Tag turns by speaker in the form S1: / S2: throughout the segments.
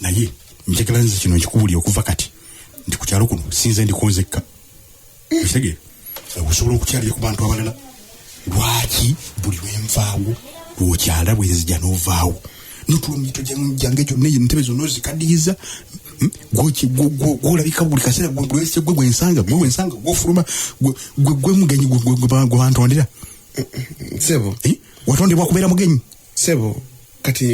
S1: naye njagala nze kino nkikubulire okuva kati nti ku kyalo kuno sinze ndikonzekka ekitegeera okusobola okukyalira ku bantu abalala lwaki buli lwenvaawo lwokyala bwenzija novaawo notulo mito jange gyonna eyo ntebe zonna ozikaddiyiza hmm? gwolabika buli kaseera gwese gwe gwensanga gwe wensanga gwofuluma gwe mugenyi gwebantondera
S2: sebo eh? watondebwa
S1: kubeera mugenyi sebo
S2: kati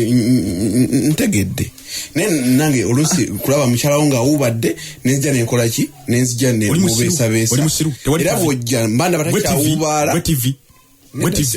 S2: ntegedde naye nange oluusi kulaba mukyalawo ng'awuubadde nenzija nenkola ki nenzija nemubeesabeesaera bwojja mbanda batakyawuubaala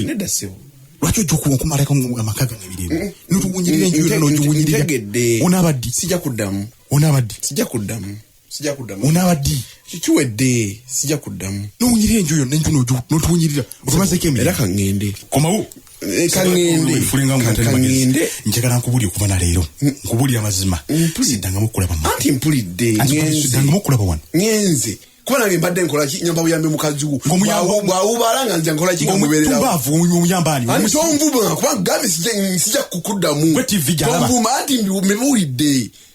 S1: nedda sebo lwaki ojja okuwa okumalako amaka gange birimu notuwunyirira enjuyo nogiwunyirira onaabaddi sija kuddamu
S2: onaabaddi sija kuddamu sijja
S1: kuddamu onaaba ddi kiwedde
S2: sijja kuddamu nowunyirira enju yonna enju
S1: notuwunyirira otumazeeko emiri era kaŋŋende komawo eh, kaŋŋendekaŋŋende
S2: njagala nkubuli okuva
S1: na leero mm. nkubuli amazima siddangamu okulaba anti mpulidde
S2: siddangamu okulaba
S1: wano ŋenze kuba
S2: nange mbadde nkolaki nyamba buyambi mukazi wo bwawubala nga nja nkolaki ngamubeereraomutonvuma
S1: kuba
S2: gabe sija kukuddamu tonvuma anti mbiwulidde